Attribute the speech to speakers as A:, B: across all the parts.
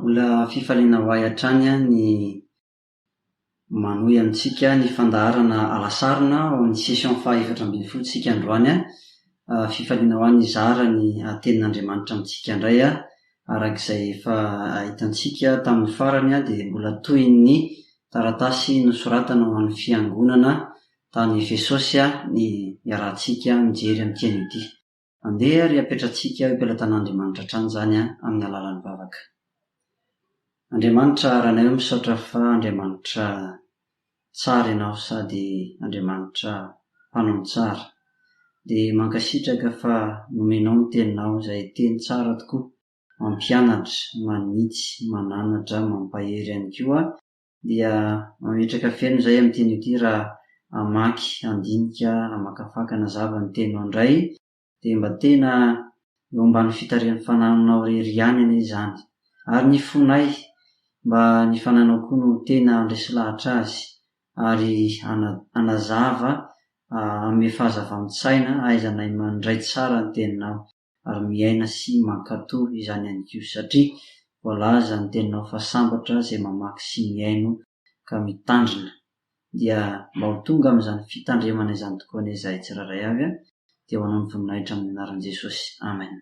A: Mbola fifaliana ho ahy hatrany ny manohy amintsika ny fandaharana alasarona ao amin'ny session faha efatra ambin'ny folo tsika androany a! fifaliana ho ahy nizara ny tenin'Andriamanitra amintsika indray a! araka izay efa hitantsika tamin'ny farany a! dia mbola tohin'ny taratasy nosoratana ho an'ny fiangonana tany Efesosy a! ny iarahantsika mijery amin'ity anio ity. Andeha ary hapetratsika eo am-pelatan'Andriamanitra hatrany izany amin'ny alalan'ny vavaka. Andriamanitra Ranay o misaotra fa Andriamanitra tsara ianao sady Andriamanitra mpanao ny tsara. Dia mankasitraka fa nomenao ny teninao izay teny tsara tokoa, mampianatra, manitsy, mananatra, mampahery ihany koa. dia mametraka feno izay amin'ny teny ity raha hamaky handinika hamakafaka na zava ny teninao indray dia mba tena eo ambany fitarihan'ny fanahinao irery ihany anie izany ary ny fonay mba ny fanahinao koa no tena handresy lahatra azy ary hana hanazava hanome fahazava-mitsaina hahaizanay mandray tsara ny teninao. ary miaina sy mankato izany ihany koa satria voalaza ny teninao fa sambatra izay mamaky sy mihaino ka mitandrina dia mba ho tonga amin'izany fitandremana izany tokoa anie izahay tsirairay avy a dia ho anao ny voninahitra amin'ny anaran'i Jesosy Amen.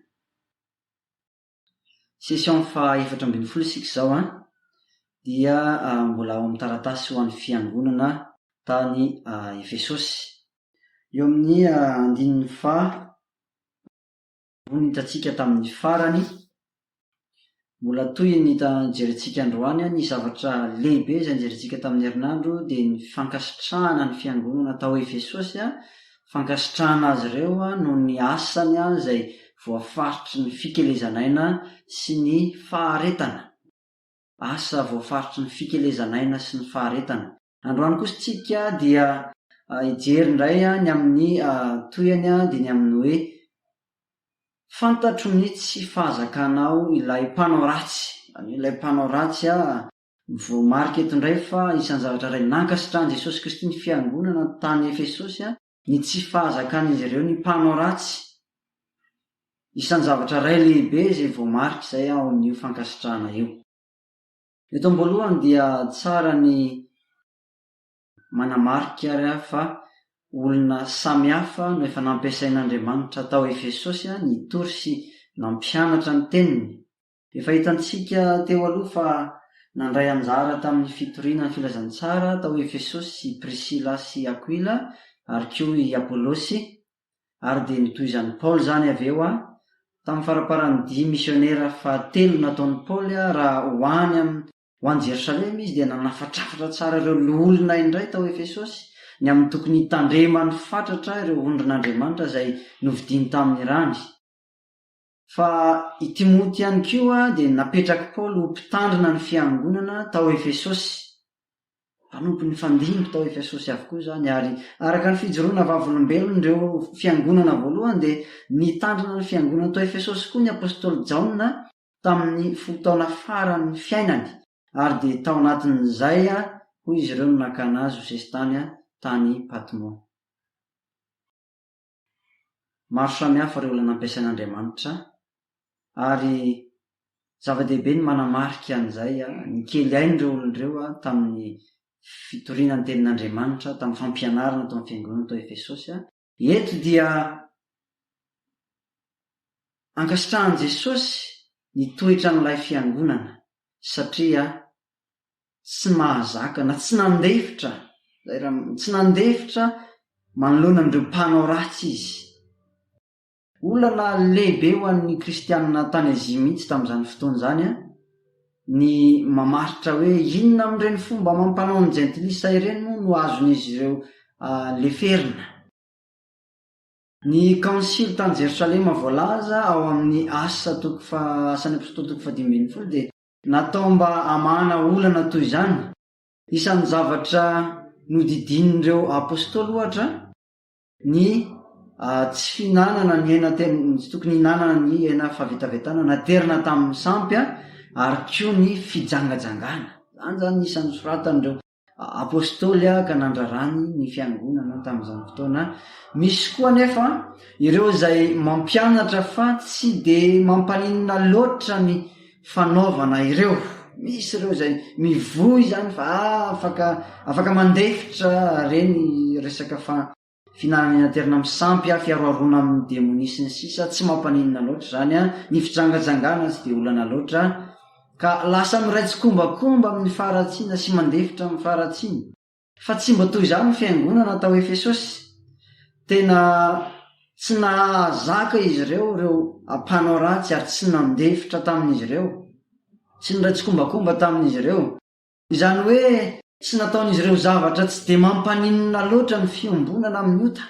A: Session faha efatra ambin'ny folo isika izao an! Dia mbola ao amin'ny taratasy ho an'ny fiangonana tany Efesosy. Eo amin'ny andininy faha roa no hitantsika tamin'ny farany. Mbola toy ny jerentsika androany, ny zavatra lehibe izay nojerentsika tamin'ny herinandro dia ny fankasitrahana ny fiangonana tao Efesosy, fankasitrahana azy ireo noho ny asany izay voafaritry ny fikelezan'aina sy ny faharetana. Asa voafaritry ny fikelezan'aina sy ny faharetana. Androany kosa tsika dia hijery indray ny amin'ny tohiny dia ny amin'ny hoe, Fantatro ny tsy fahazakanao ilay mpanao ratsy. Izany hoe ilay mpanao ratsy voamarika eto indray fa isan'ny zavatra iray nankasitrahan'i Jesosy Kristy ny fiangonana tany Efesosy ny tsy fahazakan'izy ireo ny mpanao ratsy. Isan'ny zavatra iray lehibe izay voamarika izay ao amin'io fankasitrahana io. Eto am-boalohany dia tsara ny manamarika ary fa olona samy hafa no efa nampiasain'Andriamanitra tao Efesosy nitory sy nampianatra ny Teniny. Efa hitantsika teo aloha fa nandray anjara tamin'ny fitoriana ny Filazantsara tao Efesosy i Prisila sy Akoila ary koa i Apolosy, Ary dia nitohizan'i Paoly izany avy eo a! Tamin'ny faramparan'ny dia misionera fahatelo nataon'i Paoly a, raha ho any amin'ny ho any Jerosalema izy, dia nanafatrafatra tsara ireo loholona indray tao Efesosy, ny amin'ny tokony hitandremany fatratra ireo ondrin'Andriamanitra izay novidiany tamin'ny rany. Fa i Timoty ihany koa dia napetrak'i Paoly ho mpitandrina ny fiangonana tao Efesosy. Mpanompony mifandimby tao Efesosy avokoa izany, ary araka ny fijoroana vavolombelony ireo fiangonana voalohany dia nitandrina ny fiangonana tao Efesosy koa ny apostoly Jaona tamin'ny folo taona faran'ny fiainany, ary dia tao anatin'izay hoy izy ireo no nakana azy ho sesitany tany Patmo. Maro samihafa ireo olona nampiasain'Andriamanitra, ary zava-dehibe ny manamarika an'izay ny kely ain'ireo olona ireo tamin'ny fitoriana ny Tenin'Andriamanitra, tamin'ny fampianarana tao amin'ny fiangonana tao Efesosy. Eto dia ankasitrahan'i Jesosy ny toetran'ilay fiangonana, satria tsy mahazaka na tsy nandefitra, izay ra, tsy nandefitra manoloana an'ireo mpanao ratsy izy. Olana lehibe ho an'ny Kristianina tany Azia mihitsy tamin'izany fotoana izany ny mamaritra hoe inona amin'ireny fomba amam-panaon'ny Jentilisa ireny moa no azon'izy ireo leferina. Ny Kaonsily tany Jerosalema voalaza ao amin'ny Asa toko faha, Asan'ny Apôstôly toko fahadimy ambin'ny folo dia Natao mba hamahana olana toy izany. Isan'ny zavatra nodidinin'ireo apostoly, ohatra, ny tsy fihinanana ny hena tsy tokony hihinanana ny hena fahavetavetana naterina tamin'ny sampy, ary koa ny fijangajangana. Izany izany no isan'ny nosoratan'ireo. Apostoly ka nandrarany ny Fiangonana tamin'izany fotoana. Misy koa anefa ireo izay mampianatra fa tsy dia mampaninona loatra ny fanaovana ireo. Misy ireo izay mivoy izany fa afaka afaka mandefitra ireny resaka fa. Fihinanana eny an-toerana misampy, fiharoharoana amin'ny demonia sy ny sisa Tsy mampaninona loatra izany an! Ny fijangajangana tsy dia olana loatra Ka lasa miray tsikombakomba amin'ny faharatsiana sy mandefitra amin'ny faharatsiana. Fa tsy mba toy izany ny fiangonana tao Efesosy. Tena tsy nahazaka izy ireo ireo mpanao ratsy ary tsy nandefitra tamin'izy ireo. Tsy niray tsikombakomba tamin'izy ireo. Izany hoe tsy nataon'izy ireo zavatra tsy dia mampaninona loatra ny fiombonana amin'ny ota.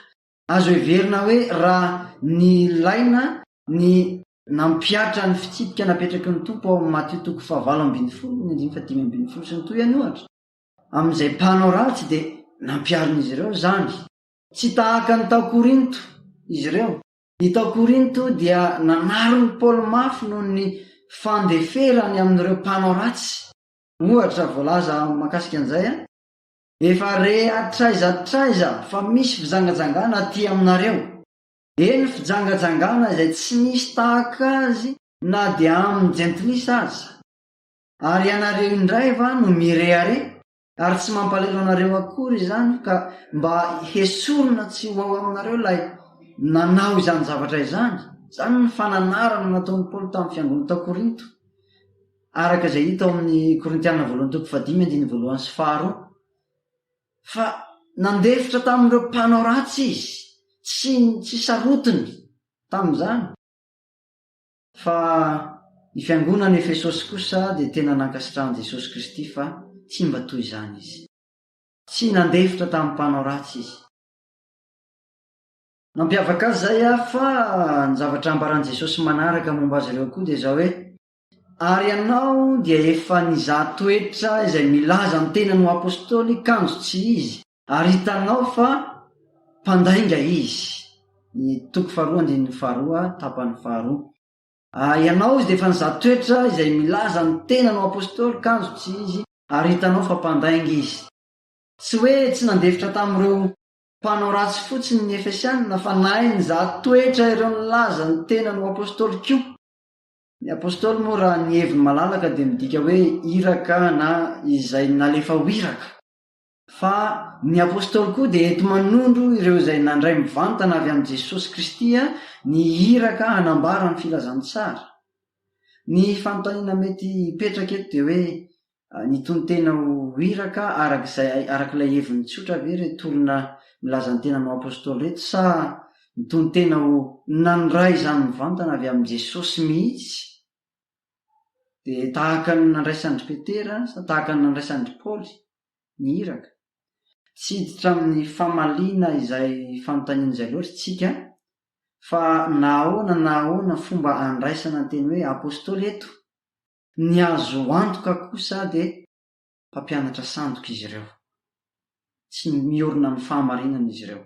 A: Azo heverina hoe raha nilaina ny nampihatra ny fitsipika napetraky ny Tompo ao amin'ny Matio toko fahavalo ambin'ny folo ny andininy fahadimy ambin'ny folo sy ny tohiny, ohatra, amin'izay mpanao ratsy dia nampiharin'izy ireo izany. Tsy tahaka ny tao Korinto izy ireo. Ny tao Korinto dia nanarin'i Paoly mafy noho ny fandeferany amin'ireo mpanao ratsy. ohatra voalaza mahakasika an'izay an! Efa re hatraiza hatraiza fa misy fijangajangana aty aminareo. Eny fijangajangana izay tsy nisy tahaka azy na dia amin'ny jentilisa aza. Ary ianareo indray va no mirehareha? Ary tsy mampalahelo anareo akory izany ka mba hesorina tsy ho ao aminareo ilay nanao izany zavatra izany? Izany ny fananarana nataon'i Paoly tamin'ny fiangonana tao Korinto. araka izay hita ao amin'ny Korintiana voalohany toko fahadimy andininy voalohany sy faharoa, fa nandefitra tamin'ireo mpanao ratsy izy, tsy tsy sarotiny tamin'izany. Fa ny fiangonan'i Efesosy kosa dia tena nankasitrahan'i Jesosy Kristy fa tsy mba toy izany izy. Tsy nandefitra tamin'ny mpanao ratsy izy. Nampiavaka azy izay fa ny zavatra ambaran'i Jesosy manaraka momba azy ireo koa dia izao hoe, Ary ianao dia efa nizaha toetra izay milaza ny tenany ho apostoly kanjo tsy izy, ary hitanao fa mpandainga izy. Ny toko faharoa andininy faharoa, tapany faharoa. Ary ianao izy dia efa nizaha toetra izay milaza ny tenany ho apostoly kanjo tsy izy, ary hitanao fa mpandainga izy. Tsy hoe tsy nandefitra tamin'ireo mpanao ratsy fotsiny ny Efesiana, fa nahay nizaha toetra ireo nilaza ny tenany ho apostoly koa. Ny Apostoly moa raha ny heviny malalaka dia midika hoe iraka na izay nalefa ho iraka. Fa ny Apostoly koa dia enti-manondro ireo izay nandray mivantana avy amin'i Jesosy Kristy ny iraka hanambara ny filazantsara. Ny fanontaniana mety hipetraka eto dia hoe Ny tonon-tena ho iraka araka izay araka ilay heviny tsotra ve ireto olona milaza ny tenany ho apostoly ireto sa ny tonon-tena ho nandray izany mivantana avy amin'i Jesosy mihitsy dia tahaka ny nandraisan-dry Petera sa tahaka ny nandraisan-dry Paoly ny iraka? Tsy hiditra amin'ny famaliana izay fanontaniana izay loatra isika fa na ahoana na ahoana fomba andraisana ny teny hoe apostoly eto, Ny azo antoka kosa dia mpampianatra sandoka izy ireo. Tsy miorina amin'ny fahamarinana izy ireo.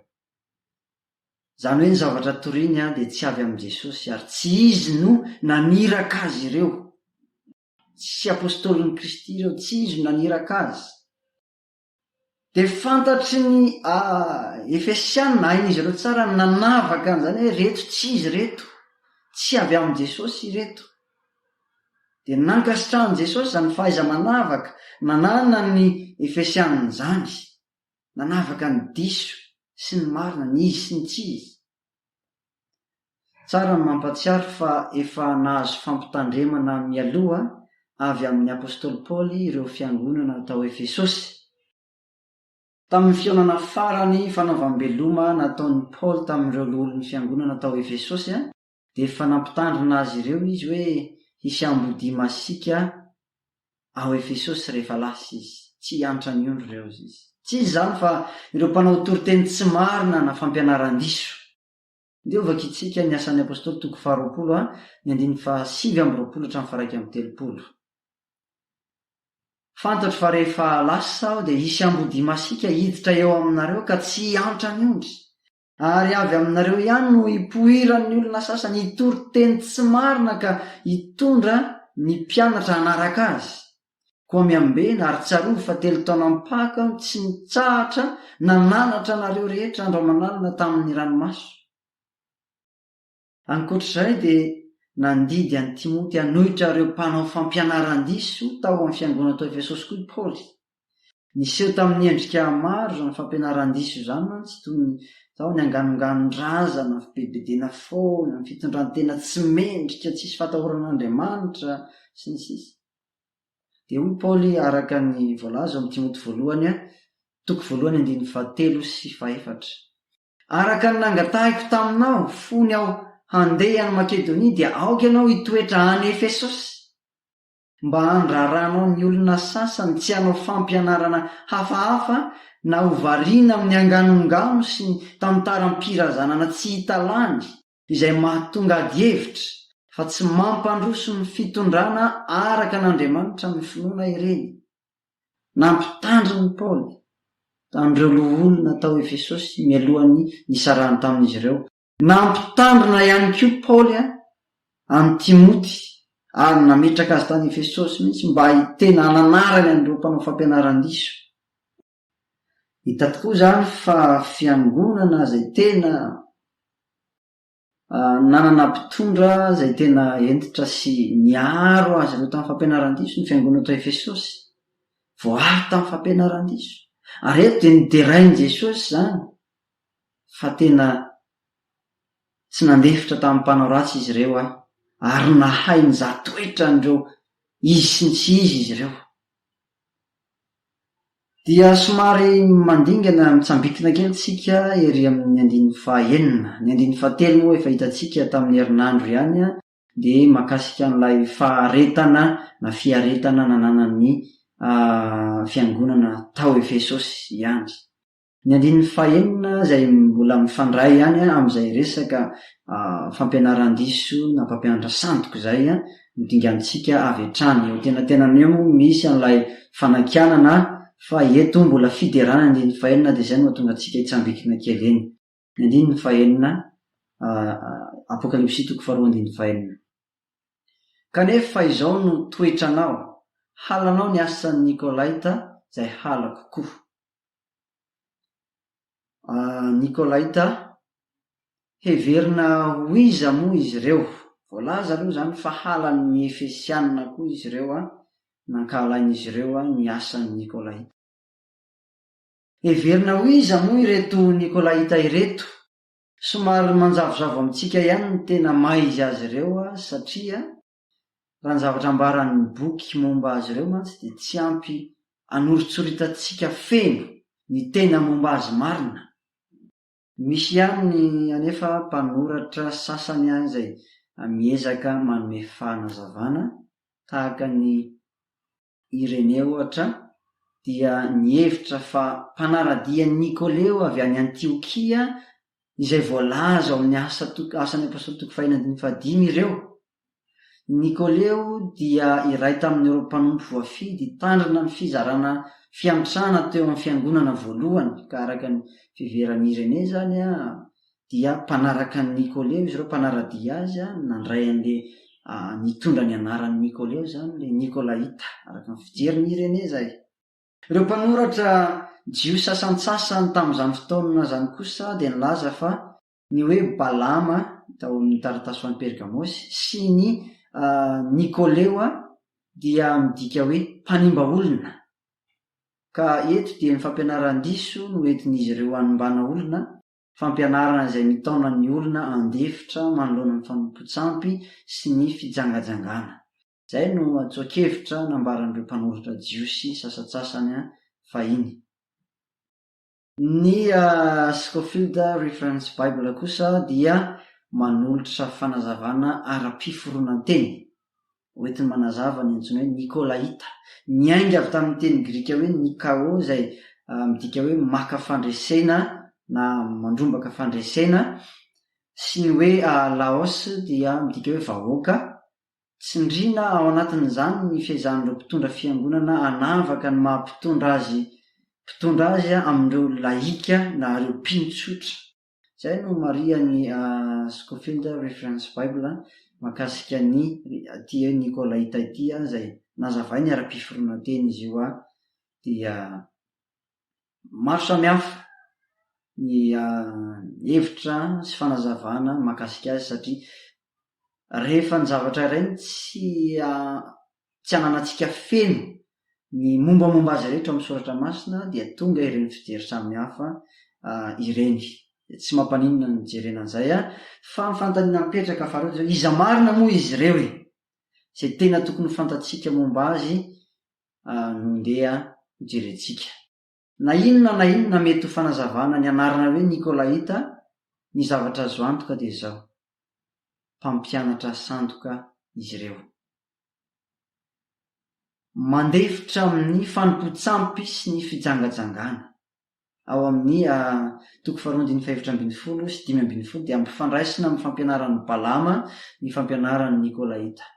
A: Izany hoe ny zavatra toriany dia tsy avy amin'i Jesosy ary tsy Izy no naniraka azy ireo. Tsy apostolin'i Kristy ireo, tsy Izy no naniraka azy. Dia fantatry ny a Efesiana, hain'izy ireo tsara ny nanavaka an'izany hoe ireto tsy izy ireto, tsy avy amin'i Jesosy ireto. Dia nankasitrahan'i Jesosy izany fahaiza-manavaka nananan'ny Efesiana izany. Nanavaka ny diso sy ny marina, ny izy sy ny tsy izy. Tsara ny mampahatsiaro fa efa nahazo fampitandremana mialoha avy amin'Ny Apostoly Paoly ireo fiangonana tao Efesosy. Tamin'ny fihaonana farany fanaovam-beloma nataon'i Paoly tamin'ireo loholon'ny fiangonana tao Efesosy, dia efa nampitandrina azy ireo izy hoe hisy ambodia masiaka ao Efesosy rehefa lasa izy. Tsy hiantra ny ondry ireo izy. Tsy izy izany fa ireo mpanao toriteny tsy marina na fampianaran-diso. Ndeha hovakintsika ny Asan'ny Apostoly toko faharoapolo a, ny andininy fahasivy amby roapolo hatramin'ny faharaika amby telopolo. Fantatro fa rehefa lasa aho dia hisy ambodia masiaka hiditra eo aminareo ka tsy hiantra ny ondry. Ary avy aminareo ihany no ipoiran'ny olona sasany hitory teny tsy marina ka hitondra ny mpianatra hanaraka azy. Koa miambena ary tsarovy fa telo taona am-paka aho tsy nitsahatra nananatra anareo rehetra andro aman'alina tamin'ny ranomaso. Ankoatra izay dia nandidy an'i Timoty hanohitra ireo mpanao fampianaran-diso tao amin'ny fiangonana tao Efesosy koa i Paoly. Niseho tamin'ny endrika maro izany fampianaran-diso izany mantsy, toy ny tao ny anganonganon-drazana, fibedibedena foana, ny fitondran-tena tsy mendrika, tsisy fatahorana an'Andriamanitra, sy ny sisa Dia hoy Paoly araka ny voalaza ao amin'ny Timoty voalohany, toko voalohany andininy fahatelo sy fahefatra, Araka ny nangatahiko taminao fony aho handeha any Makedonia, dia aoka ianao hitoetra any Efesosy, mba handraranao ny olona sasany tsy hanao fampianarana hafahafa na ho variana amin'ny anganongano sy ny tantaram-pirazanana tsy hita lany, izay mahatonga adihevitra fa tsy mampandroso ny fitondrana araka an'Andriamanitra ny finoana ireny. Nampitandriny Paoly an'ireo loholona tao Efesosy mialohan'ny nisarahany tamin'izy ireo. Nampitandrina ihany koa Paoly an'i Timoty ary nametraka azy tany Efesosy mihitsy mba hiteny hananarany an'ireo mpanao fampianaran-diso. Hita tokoa izany fa fiangonana izay tena nanana mpitondra izay tena hentitra sy niaro azy ireo tamin'ny fampianaran-diso ny fiangonana tao Efesosy. Voaaro tamin'ny fampianaran-diso. Ary eto dia noderain'i Jesosy izany fa tena tsy nandefitra tamin'ny mpanao ratsy izy ireo ahy, ary nahay nizaha toetra an'ireo izy sy ny tsy izy izy ireo. Dia somary mandingana mitsambitina kely tsika ery amin'ny andininy fahaenina. Ny andininy fahatelo moa efa hitantsika tamin'ny herinandro ihany dia mahakasika an'ilay faharetana na fiaretana nananan'ny Fiangonana tao Efesosy ihany. Ny andininy fahenina izay mbola mifandray ihany amin'izay resaka fampianaran-diso na mpampianatra sandoka izay no dingantsika avy hatrany. Eo an-tenantenany eo moa misy an'ilay fanakianana fa eto mbola fiderana ny andininy fahenina dia izay no hahatonga antsika hitsambikina kely eny. Ny andininy fahenina, Apokalypsy toko faharoa andininy fahenina. Kanefa fa izao no toetranao, halanao ny asan'ny Nikolaita izay halako koa. Nikolaita, Heverina ho iza moa izy ireo? Voalaza aloha izany fa halan'ny Efesiana koa izy ireo, nankahalain'izy ireo ny asan'ny Nikolaita. Heverina ho iza moa ireto Nikolaita ireto? Somary manjavozavo amintsika ihany ny tena maha izy azy ireo azy satria raha ny zavatra ambaran'ny boky momba azy ireo mantsy dia tsy ampy anoritsoritanttsika feno ny tena momba azy marina. Misy ihany anefa mpanoratra sasany an izay miezaka manome fanazavana tahaka ny Ireneo Oatra dia nihevitra fa mpanara-dian'i Nikoleo avy any Antiokia izay voalaza ao amin'ny Asa toko Asan'ny Apostoly toko fahiny andininy fahadimy ireo. I Nikoleo dia iray tamin'ireo mpanompo voafidy hitandrina amin'ny fizarana fiantrana teo amin'ny fiangonana voalohany, ka araka ny fiheveran'i Irenee izany, dia mpanaraka an'i Nikoleo izy ireo, mpanara-dia azy, nandray an'ilay nitondra ny anaran'i Nikoleo izany, ilay Nikolaita, araka ny fijerin'i Irénée izay. Ireo mpanoratra jiosy sasantsasany tamin'izany fotoana izany kosa dia nilaza fa ny hoe Balama, hita ao amin'ny taratasy ho an'i Pergamosy, sy ny Nikoleo dia midika hoe mpanimba olona. Ka eto dia ny fampianaran-diso no entin'izy ireo hanimbana olona, fampianarana izay mitaona ny olona handefitra manoloana ny fanompoan-tsampy sy ny fijangajangana. Izay no antsoan-kevitra nambaran'ireo mpanoratra jiosy sasantsasany fahiny. Ny Scofield Reference Bible kosa dia manolotra fanazavana ara-piforonan-teny hoentiny manazava ny antsoina hoe Nikôlaita. Niainga avy tamin'ny teny grika hoe Nikao izay midika hoe maka fandresena na mandrombaka fandresena sy ny hoe laos dia midika hoe vahoaka. Tsindriana ao anatin'izany ny fiezahan'ireo mpitondra fiangonana hanavaka ny maha mpitondra azy mpitondra azy amin'ireo laika na ireo mpino tsotra. Izay no marihan'i Scofield Reference Bible mahakasika an'i ity hoe Nikolaita ity izay nazavainy ara-piforonan-teny izy io dia maro samihafa ny hevitra sy fanazavana mahakasika azy satria rehefa ny zavatra iray no tsy tsy ananantsika feno ny mombamomba azy rehetra ao amin'ny soratra masina dia tonga ireny fijery samihafa ireny. Tsy mampaninona ny nijerena an'izay an! Fa ny fanontaniana mipetraka faharoa dia hoe, iza marina moa izy ireo e? Izay tena tokony ho fantatsika momba azy no ndeha hojerentsika. Na inona na inona mety ho fanazavana ny anarana hoe Nikolaita, ny zavatra azo antoka dia izao, mpampianatra sandoka izy ireo. Mandefitra amin'ny fanompoan-tsampy sy ny fijangajangana. Ao amin'ny A, toko faharoa andininy fahefatra ambin'ny folo sy dimy ambin'ny folo dia ampifandraisina amin'ny fampianaran'i Balama ny fampianaran'ny Nikolaita.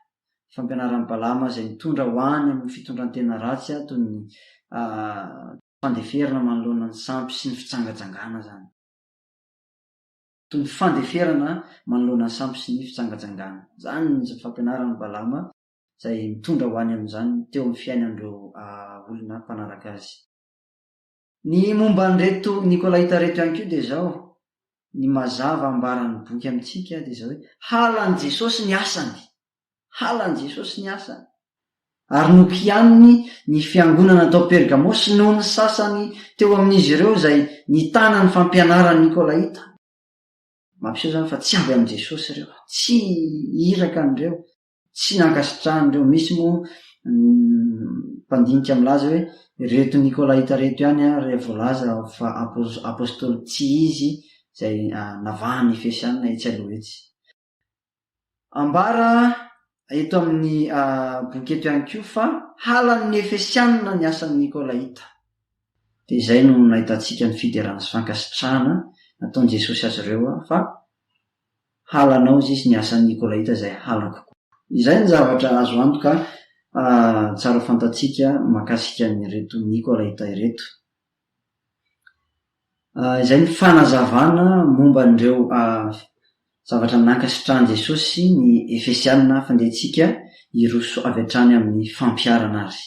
A: fampianaran'i Balama izay mitondra ho any amin'ny fitondran-tena ratsy toy ny fandeferana manoloana ny sampy sy ny fijangajangana izany. Toy ny fandeferana manoloana ny sampy sy ny fijangajangana izany ny fampianaran'i Balama izay mitondra ho any amin'izany teo amin'ny fiainan'ireo olona mpanaraka azy. Ny momba an'ireto Nikolaita ireto ihany koa dia izao, ny mazava ambaran'ny boky amintsika dia izao hoe, halan'i Jesosy ny asany, halan'i Jesosy ny asany, ary nokianiny ny fiangonana tao Pergamo sy noho ny sasany teo amin'izy ireo izay nitana ny fampianaran'ny Nikolaita. Mampiseho izany fa tsy avy amin'i Jesosy ireo, tsy iraka an'ireo. Tsy nankasitrahan'ireo misy moa ny mpandinika milaza hoe ireto Nikolaita ireto ihany ary voalaza fa Apôstôly tsy izy izay navahan'ny Efesiana etsy aloha etsy. Ambara eto amin'ny boky eto ihany koa fa halan'ny Efesiana ny asan'ny Nikolaita. Dia izay no nahitantsika ny fiderana sy fankasitrahana nataon'i Jesosy azy ireo fa halanao sis ny asan'ny Nikolaita izay halako koa. Izay ny zavatra azo antoka tsara fantatsika mahakasika an'ireto Nikolaita ireto. Izay ny fanazavana momba an'ireo zavatra nankasitrahan'i Jesosy sy ny Efesiana fandehantsika hiroso avy hatrany amin'ny fampiharana azy.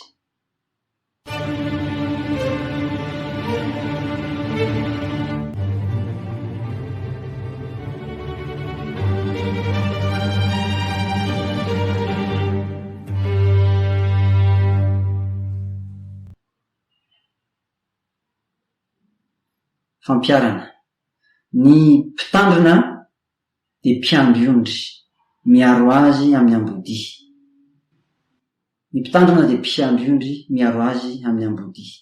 A: Fampiharana, Ny mpitandrina dia mpiandry ondry, miaro azy amin'ny ambodia. Ny Mpitandrina dia mpiandry ondry miaro azy amin'ny ambodia.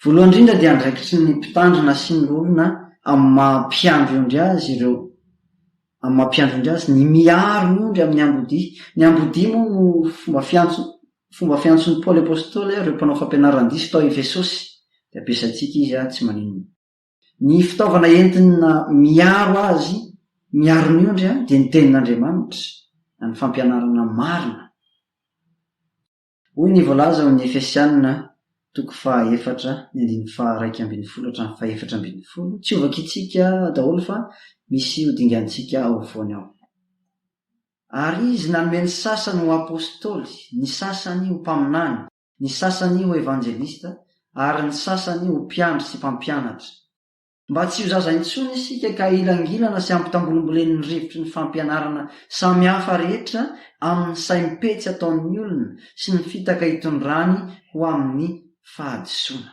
A: Voalohany indrindra dia andraikitry ny Mpitandrina sy ny loholona amin'ny maha mpiandry ondry azy ireo amin'ny maha mpiandry ondry azy ny miaro ny ondry amin'ny ambodia. Ny ambodia moa no fomba fiantso fomba fiantson'i Paoly Apostoly ireo mpanao fampianaran-diso tao Efesosy dia ampiasaintsika izy tsy maninona. Ny fitaovana entina miaro azy miaro ny ondry dia ny Tenin'Andriamanitra, ny fampianarana marina. Hoy ny voalaza ao amin'ny Efesiana toko fahaefatra, ny andininy faharaika ambin'ny folo hatramin'ny fahefatra ambin'ny folo, tsy ho vakintsika daholo fa misy ho dingantsika ao afovoany ao. Ary Izy nanome ny sasany ho apostoly, ny sasany ho mpaminany. ny sasany ho evanjelista, ary ny sasany ho mpiandry sy mpampianatra. Mba tsy ho zaza intsony isika ka hilangilana sy ampitambolimbolen'ny rivotry ny fampianarana samihafa rehetra amin'ny saim-petsy ataon'ny olona sy ny fitaka itondrany ho amin'ny fahadisoana.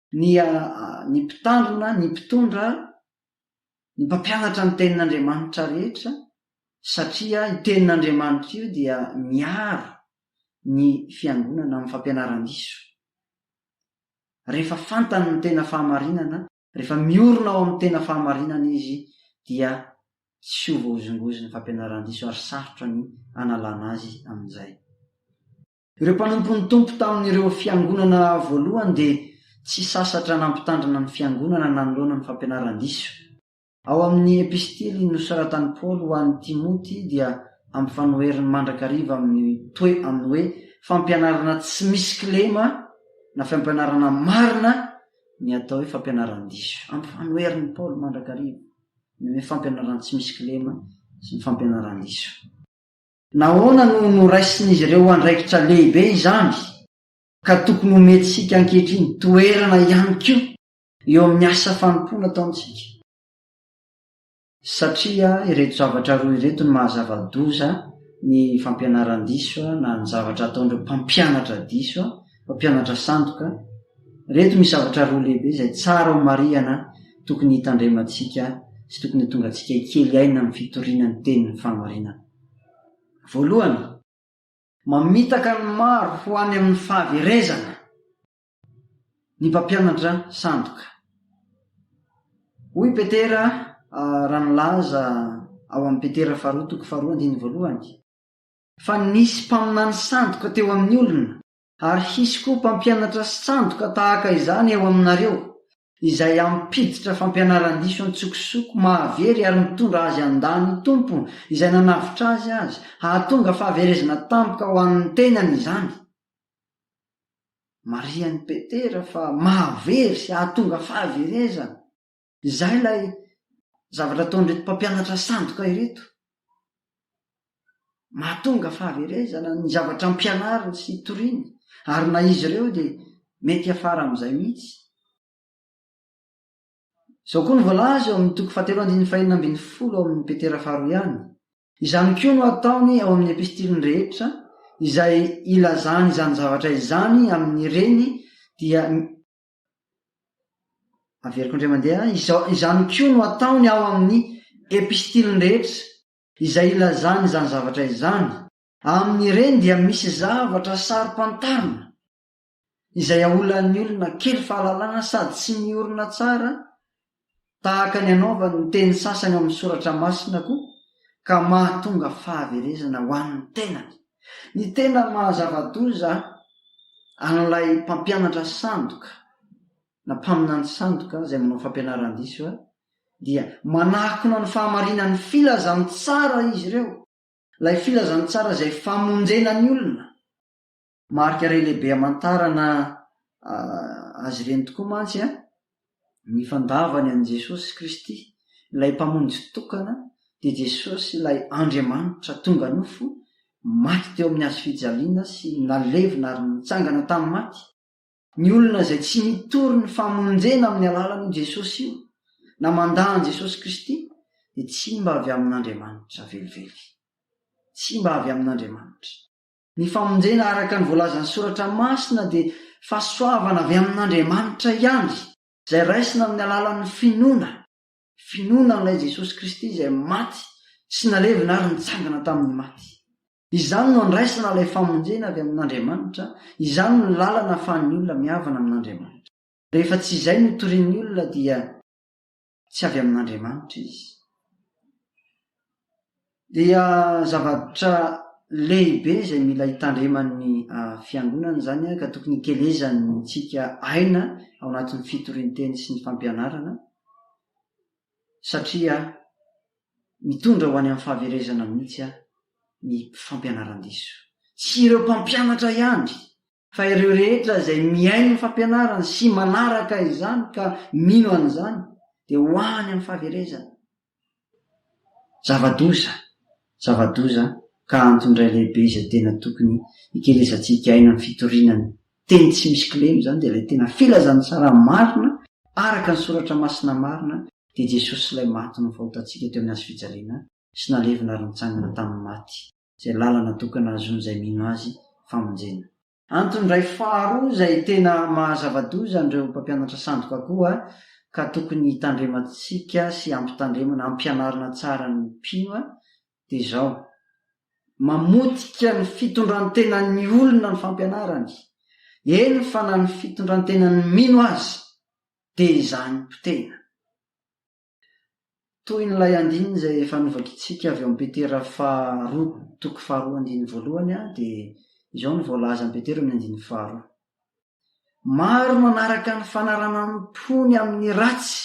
A: Ny ny mpitandrina, ny mpitondra, ny mpampianatra ny Tenin'Andriamanitra rehetra, satria io Tenin'Andriamanitra io dia miaro ny Fiangonana amin'ny fampianaran-diso. Rehefa fantany ny tena fahamarinana, rehefa miorina ao amin'ny tena fahamarinana izy, dia tsy ho voahozongozin'ny fampianaran-diso ary sarotra ny hanalana azy amin'izay. Ireo mpanompon'ny Tompo tamin'ireo fiangonana voalohany dia tsy sasatra nampitandrina ny fiangonana nanoloana ny fampianaran-diso. Ao amin'ny epistily nosoratan'i Paoly ho an'i Timoty dia ampifanoheriny mandrakariva amin'ny toe amin'ny hoe fampianarana tsy misy kilema na fampianarana marina ny atao hoe fampianaran-diso. Ampifanoherin'i Paoly mandrakariva ny hoe fampianaran-tsy misy kilema sy ny fampianaran-diso. Nahoana no noraisin'izy ireo andraikitra lehibe izany, ka tokony homentsika ankehitriny toerana ihany koa eo amin'ny asa fanompoana ataontsika? Satria ireto zavatra roa ireto no maha-zava-doza ny fampianaran-diso na ny zavatra ataon'ireo mpampianatra diso Mpampianatra sandoka, Ireto misy zavatra roa lehibe izay tsara homarihana tokony hitandremantsika sy tokony ho tonga antsika hikely aina amin'ny fitoriana ny tenin'ny fahamarinana. Voalohany. Mamitaka ny maro ho any amin'ny fahaverezana ny mpampianatra sandoka. Hoy Petera raha nilaza ao amin'ny Petera faharoa toko faharoa andininy voalohany. Fa nisy mpaminany sandoka teo amin'ny olona, ary hisy koa mpampianatra sandoka tahaka izany eo aminareo, izay hampiditra fampianaran-diso an-tsokosoko mahavery ary mitondra azy handà ny Tompo izay nanavotra azy azy, hahatonga fahaverezana tampoka ho an'ny tenany izany. Marihan'i Petera fa mahavery sy hahatonga fahaverezana. Izay ilay zavatra ataon'ireto mpampianatra sandoka ireto. Mahatonga fahaverezana ny zavatra ampianariny sy toriany, ary na izy ireo dia mety hiafara amin'izay mihitsy. Izao koa no voalaza eo amin'ny toko fahatelo andininy fahenina ambin'ny folo ao amin'i Petera faharoa ihany, Izany koa no ataony ao amin'ny epistiliny rehetra izay ilazany izany zavatra izany amin'ireny dia Averiko indray mandeha, izao, izany koa no ataony ao amin'ny Epistiliny rehetra. Izay ilazany izany zavatra izany. Amin'ireny dia misy zavatra saro-pantarina, izay aolan'ny olona kely fahalalana sady tsy miorina tsara tahaka ny anaovany ny teny sasany ao amin'ny Soratra Masina koa, ka mahatonga fahaverezana ho an'ny tenany. Ny tena maha-zava-doza an'ilay mpampianatra sandoka na mpaminany sandoka izay manao fampianaran-diso dia manakona ny fahamarinan'ny filazantsara izy ireo, ilay filazantsara izay famonjena ny olona. Marika iray lehibe hamantarana Azy ireny tokoa mantsy ny fandavany an'i Jesosy Kristy, ilay Mpamonjy tokana, dia Jesosy ilay Andriamanitra tonga nofo, maty teo amin'ny Hazo fijaliana sy nalevina ary nitsangana tamin'ny maty. Ny olona izay tsy mitory ny famonjena amin'ny alalan'io Jesosy io, na mandà an'i Jesosy Kristy, dia tsy mba avy amin'Andriamanitra velively. Tsy mba avy amin'Andriamanitra. Ny famonjena araka ny voalazan'ny Soratra Masina dia fahasoavana avy amin'Andriamanitra ihany, izay raisina amin'ny alalan'ny finoana, finoana an'ilay Jesosy Kristy izay maty sy nalevina ary nitsangana tamin'ny maty. Izany no andraisana ilay famonjena avy amin'Andriamanitra, izany no lalana ahafahan'ny olona mihavana amin'Andriamanitra. Rehefa tsy izay no torian'ny olona dia. tsy avy amin'Andriamanitra izy. Dia zavatra lehibe izay mila hitandreman'ny ah, fiangonana izany ah, ka tokony hikelezanintsika aina ao anatin'ny fitorian-teny sy ny fampianarana, satria mitondra ho any amin'ny fahaverezana mihitsy ah, ny fampianaran-diso. Tsy ireo mpampianatra ihany Fa ireo rehetra izay mihaino ny fampianarany sy manaraka izany ka mino an'izany dia ho any amin'ny fahaverezana. Zava-doza, zava-doza ka antony iray lehibe izay tena tokony hikelezantsika aina amin'ny fitoriana ny Teny tsy misy kilema izany dia ilay tena filazantsara marina araka ny Soratra Masina marina dia Jesosy Ilay maty novahotantsika teo amin'ny Hazo fijaliana sy nalevina ary nitsangana tamin'ny maty. izay lalana tokana ahazoan'izay mino Azy famonjena. Antony iray faharoa izay tena maha zava-doza an'ireo mpampianatra sandoka koa ka tokony hitandremantsika sy hampitandremana, hampianarina tsara ny mpino dia izao, Mamotika ny fitondran-tenan'ny olona ny fampianarany, eny fa na ny fitondran-tenan'ny mino aza dia izany potehina. Toy ny ilay andininy izay efa novakintsika avy ao amin'ny Petera faharoa toko faharoa andininy voalohany dia izao no voalazan'i Petera amin'ny andininy faharoa. Maro no hanaraka ny fanaranan-pony amin'ny ratsy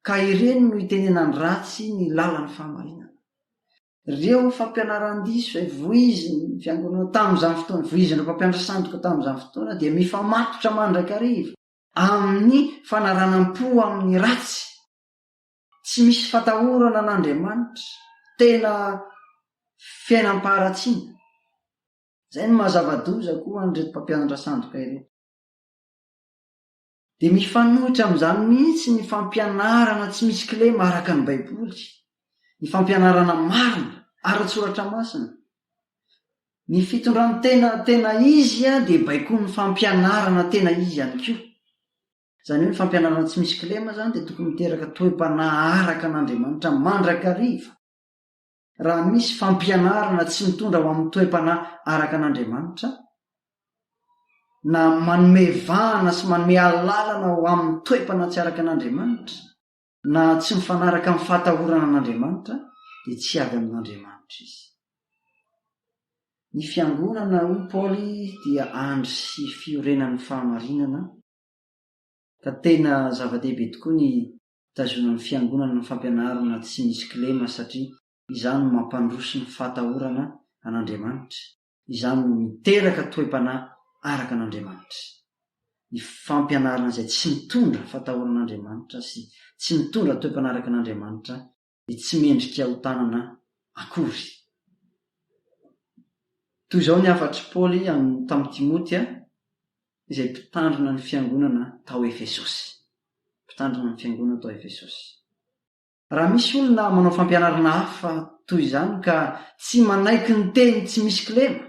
A: ka ireny no hitenenany ratsy ny lalan'ny fahamarinana. Ireo fampianaran-diso izay voizin'ny Fiangonana tamin'izany fotoana, voizin'ireo mpampianatra sandoka tamin'izany fotoana dia mifamatotra mandrakariva. amin'ny fanaranam-po amin'ny ratsy. Tsy misy fatahorana an'Andriamanitra, tena fiainam-paharatsiana. Izay no maha zava-doza koa an'ireto mpampianatra sandoka ireto. Dia mifanohitra amin'izany mihitsy ny fampianarana tsy misy kilema araka ny Baiboly, ny fampianarana marina ara-tsoratra masina. Ny fitondran-tena tena izy dia baikoin'ny fampianarana tena izy ihany koa. Izany hoe ny fampianarana tsy misy kilema izany dia tokony miteraka toe-panahy araka an'Andriamanitra mandrakariva. Raha misy fampianarana tsy mitondra ho amin'ny toe-panahy araka an'Andriamanitra, na manome vahana sy manome alalana ho amin'ny toe-panahy tsy araka an'Andriamanitra, Na tsy mifanaraka amin'ny fahatahorana an'Andriamanitra dia tsy hiady amin'Andriamanitra izy. Ny fiangonana, hoy Paoly, dia andry sy fiorenan'ny fahamarinana, ka tena zava-dehibe tokoa ny hitazonan'ny fiangonana ny fampianarana tsy misy kilema satria izany no mampandroso ny fahatahorana an'Andriamanitra. Izany no miteraka toe-panahy araka an'Andriamanitra. Ny fampianarana izay tsy mitondra fatahoran'Andriamanitra sy tsy mitondra toe-panahy araka an'Andriamanitra dia tsy mendrika ho tanana akory. Toy izao ny hafatr'i Paoly tamin'i Timoty, izay mpitandrina ny fiangonana tao Efesosy. Mpitandrina ny fiangonana tao Efesosy. Raha misy olona manao fampianarana hafa toy izany ka tsy manaiky ny teny tsy misy kilema,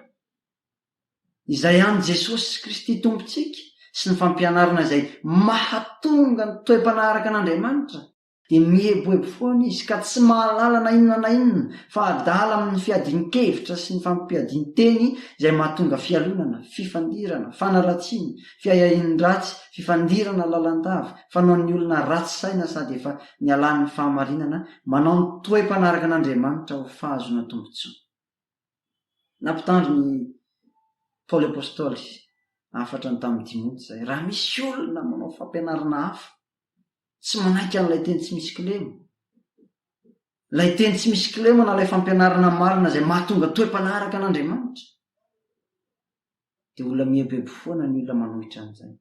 A: izay an'i Jesosy Kristy Tompontsika sy ny fampianarana izay mahatonga ny toe-panaraka an'Andriamanitra, dia mieboebo foana izy ka tsy mahalala na inona na inona fa adala amin'ny fiadian-kevitra sy ny fampiadian-teny izay mahatonga fialonana, fifandirana, fanaratsiana, Fiahiahian-dratsy, fifandirana lalandava, fanaon'ny olona ratsy saina sady efa nialan'ny fahamarinana, manao ny toe-panaraka an'Andriamanitra ho fahazoana tombontsoa. Nampitandrina i Paoly Apostoly, hafatrany tamin'i Timoty izay, raha misy olona manao fampianarana hafa, tsy manaiky an'ilay teny tsy misy kilema. Ilay teny tsy misy kilema na ilay fampianarana marina izay mahatonga toe-panaraka an'Andriamanitra. Dia olona mieboebo foana ny olona manohitra an'izany.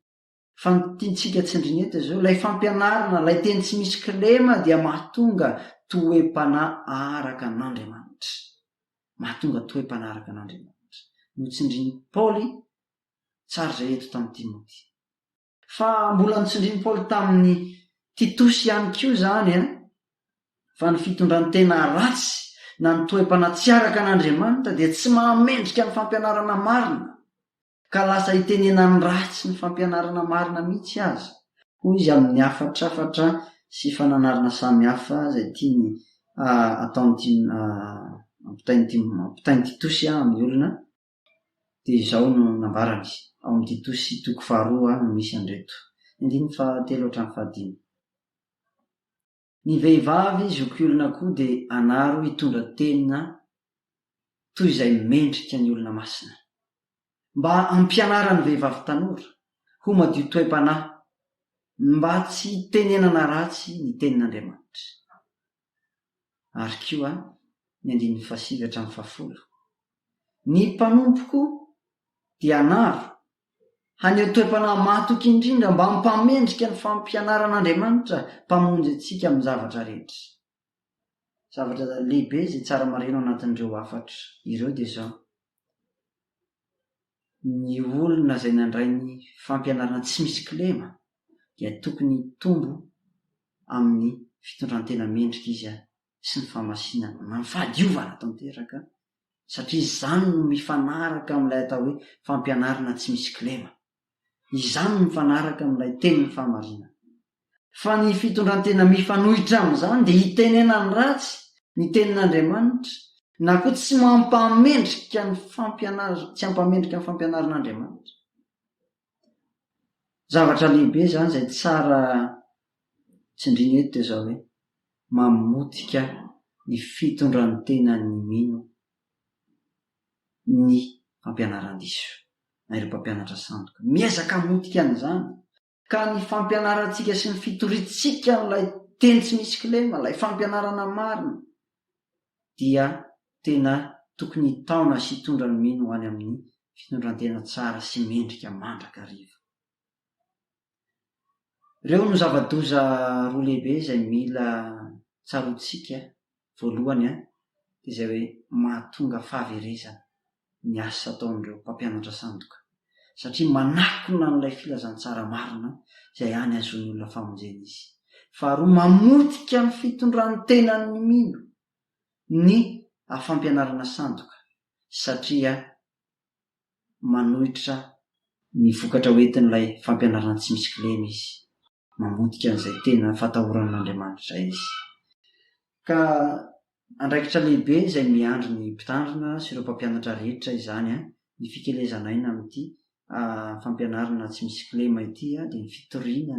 A: Fa ny tiantsika tsindrina eto izao, ilay fampianarana, ilay teny tsy misy kilema dia mahatonga toe-panahy araka an'Andriamanitra. Mahatonga toe-panahy araka an'Andriamanitra. Notsindrin'i Paoly tsara izay eto tamin'i Timoty. Fa mbola notsindrin'i Paoly tamin'i Titosy ihany koa izany fa ny fitondran-tena ratsy na ny toe-panatsiaraka an'Andriamanitra dia tsy mahamendrika ny fampianarana marina, ka lasa itenenan'ny ratsy ny fampianarana marina mihitsy aza, hoy izy amin'ny hafatrafatra sy fananarana samihafa izay tiany ataon'i Timo, ampitain'i Timo, ampitain'i Titosy amin'ny olona. dia izao no nambarany, Ao amin'ny Tito sy toko faharoa no misy an'ireto. Ny andininy fahatelo hatramin'ny fahadimy. Ny vehivavy zokiolona koa dia anaro hitondra tena toy izay mendrika ny olona masina. Mba hampianara ny vehivavy tanora ho madio toe-panahy, mba tsy hitenenana ratsy ny Tenin'Andriamanitra. ary koa ny andininy fahasivy hatramin'ny fahafolo. Ny mpanompoko dia hanaro, haneho toe-panahy mahatoky indrindra mba hampamendrika ny fampianaran'Andriamanitra Mpamonjy antsika amin'ny zavatra rehetra. Zavatra lehibe izay tsara maraina ao anatin'ireo hafatra ireo dia izao, ny olona izay nandray ny fampianarana tsy misy kilema dia tokony hitombo amin'ny fitondran-tena mendrika izy sy ny fahamasinana, na ny fahadiovana tanteraka, satria izany no mifanaraka amin'ilay atao hoe fampianarana tsy misy kilema. Izany mifanaraka amin'ilay tenin'ny fahamarinana. Fa ny fitondran-tena mifanohitra amin'izany dia hitenena ny ratsy, ny tenin'Andriamanitra, na koa tsy mampamendrika ny fampianarana, tsy hampamendrika ny fampianaran'Andriamanitra. Zavatra lehibe izany izay tsara tsindriana eto dia izao hoe, mamotika ny fitondran-tenan'ny mino ny fampianaran-diso. Na ireo mpampianatra sandoka. Miezaka hamotika an'izany. Ka ny fampianarantsika sy ny fitoriantsika an'ilay Teny tsy misy kilema, ilay fampianarana marina, dia tena tokony hitaona sy hitondra ny mino ho any amin'ny fitondrantena tsara sy mendrika mandrakariva. Ireo no zava-doza roa lehibe izay mila tsaroantsika voalohany an, dia izay hoe mahatonga fahaverezana ny asa ataon'ireo mpampianatra sandoka, satria manakona an'ilay filazantsara marina izay any hahazoan'ny olona famonjena izy. Faharoa, mamotika ny fitondran'ny tenan'ny mino ny fampianarana sandoka, satria manohitra ny vokatra ho entin'ilay fampianarana tsy misy kilema izy, mamotika an'izay tena fatahorana an'Andriamanitra izy. Ka andraikitra lehibe izay miandry ny mpitandrina sy ireo mpampianatra rehetra izany, ny fikelezan'aina amin'ity fampianarana tsy misy kilema ity dia ny fitoriana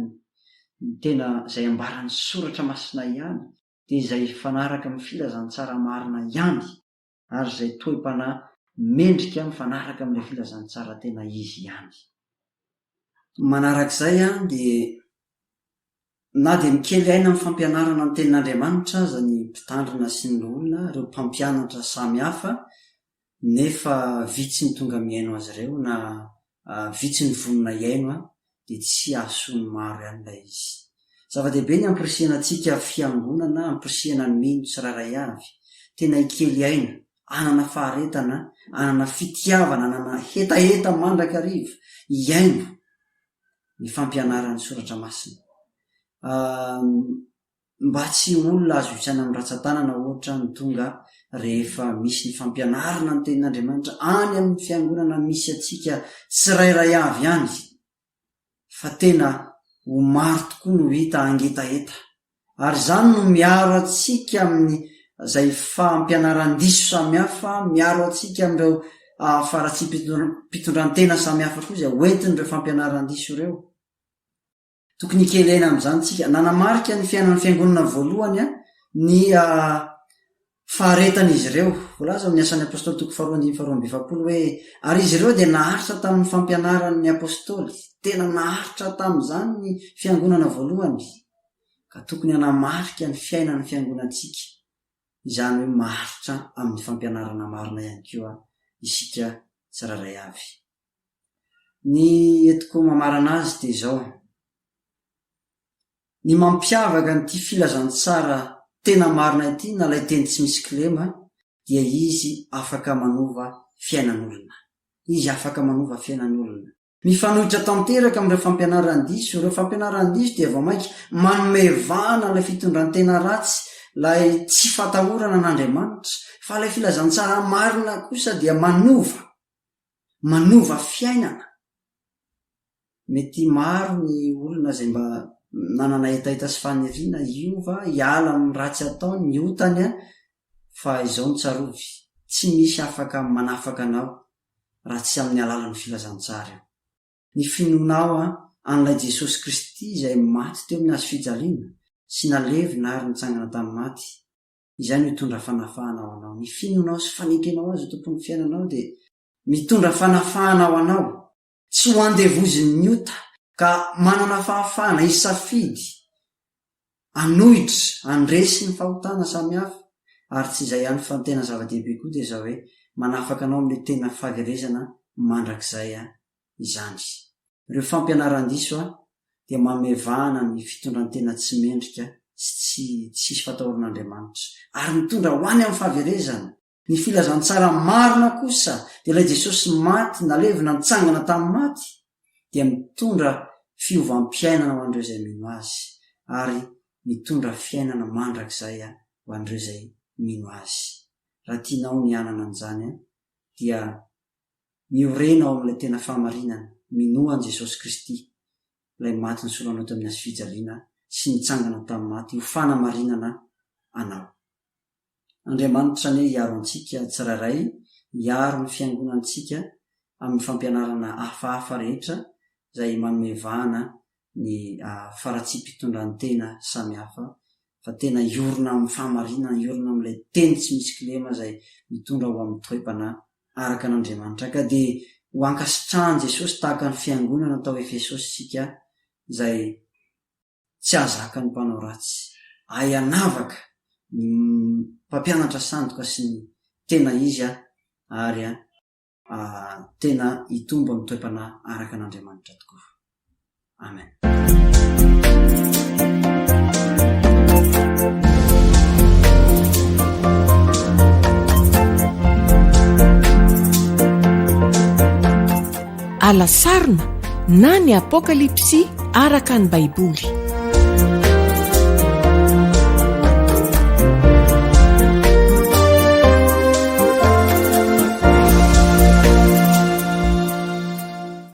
A: ny tena izay ambaran'ny soratra masina ihany, dia izay hifanaraka amin'ny filazantsara marina ihany. ary izay toe-panahy mendrika mifanaraka amin'ilay filazantsara tena izy ihany. Manarak'izay dia na dia mikely aina amin'ny fampianarana ny tenin'Andriamanitra aza ny mpitandrina sy ny loholona, ireo mpampianatra samy hafa, nefa vitsy ny tonga mihaino azy ireo na vitsy ny vonona hihaino dia tsy hahasoan'ny maro ihany ilay izy. Zava-dehibe ny hampirisihana antsika fiangonana hampirisihana ny mino tsirairay avy, tena hikely aina, hanana faharetana, hanana fitiavana, hanana hetaheta mandrakariva, hihaino ny fampianaran'ny soratra masina. mba tsy ho olona azo isaina amin'ny ratsan-tanana ohatra ny tonga rehefa misy ny fampianarana ny tenin'Andriamanitra any amin'ny fiangonana misy antsika tsirairay avy any fa tena ho maro tokoa no hita hangetaheta ary izany no miaro antsika amin'ny izay fampianaran-diso samihafa miaro antsika amin'ireo faharatsiam-pitondrantena samihafa koa izay hoentin'ireo fampianaran-diso ireo. Tokony hikendrena amin'izany isika. Nanamarika ny fiainan'ny Fiangonana voalohany ny faharetan'izy ireo. Voalaza ao amin'ny Asan'ny Apostoly toko faharoa andininy faharoa amby efapolo hoe, Ary izy ireo dia naharitra tamin'ny fampianaran'ny Apostoly. Tena naharitra tamin'izany ny Fiangonana voalohany. Ka tokony hanamarika ny fiainan'ny Fiangonantsika izany hoe maharitra amin'ny fampianarana marina ihany koa isika tsirairay avy. Ny entiko mamarana azy dia izao, ny mampiavaka an'ity filazantsara tena marina ity na ilay teny tsy misy kilema dia izy afaka manova fiainan'olona. Izy afaka manova fiainan'olona. Mifanohitra tanteraka amin'ireo fampianaran-diso. Ireo fampianaran-diso dia vao mainka manome vahana an'ilay fitondran-tena ratsy, ilay tsy fatahorana an'Andriamanitra. Fa ilay filazantsara marina kosa dia manova manova fiainana. Mety maro ny olona izay mba nanana hetaheta sy faniriana hiova, hiala amin'ny ratsy ataony, ny otany an! fa izao no tsarovy, tsy misy afaka manafaka anao raha tsy amin'ny alalan'ny filazantsara io. Ny finoanao an! an'ilay Jesosy Kristy izay maty teo amin'ny hazofijaliana sy nalevina ary nitsangana tamin'ny maty, izay no hitondra fanafahana ho anao. Ny finoanao sy fanenkenao Azy ho Tompon'ny fiainanao dia mitondra fanafahana ho anao. Tsy ho andevozin'ny ota, ka manana fahafahana hisafidy, hanohitra, handresy ny fahotana samihafa. Ary tsy izay ihany fa ny tena zava-dehibe koa dia izao hoe, manafaka anao amin'ilay tena fahaverezana mandrakizay izany. Ireo fampianaran-diso dia manome vahana ny fitondran-tena tsy mendrika sy tsy tsisy fatahoran'Andriamanitra, ary mitondra ho any amin'ny fahaverezana. Ny filazantsara marina kosa dia ilay Jesosy maty, nalevina, nitsangana tamin'ny maty, dia mitondra fiovam-piainana ho an'ireo izay mino Azy, ary mitondra fiainana mandrakizay ho an'ireo izay mino Azy. Raha tianao ny hanana an'izany, dia Miorena ao amin'ilay tena fahamarinana, minoa an'i Jesosy Kristy, Ilay maty nisolo anao tamin'ny hazofijaliana sy nitsangana tamin'ny maty, ho fanamarinana anao. Andriamanitra anie hiaro antsika tsirairay, hiaro ny fiangonantsika amin'ny fampianarana hafahafa rehetra izay manome vahana ny faratsiam-pitondrantena samihafa fa tena hiorina amin'ny fahamarinana, hiorina amin'ilay teny tsy misy kilema izay mitondra ho amin'ny toe-panahy araka an'Andriamanitra. Ka dia ho ankasitrahan'i Jesosy tahaka ny fiangonana tao Efesosy isika izay tsy hahazaka ny mpanao ratsy. Ahy hanavaka ny mpampianatra sandoka sy ny tena izy aho ary. tena hitombo amin'ny toe-panahy araka an'Andriamanitra tokoa. Amen.
B: alasarona na ny apokalypsy araka ny Baiboly.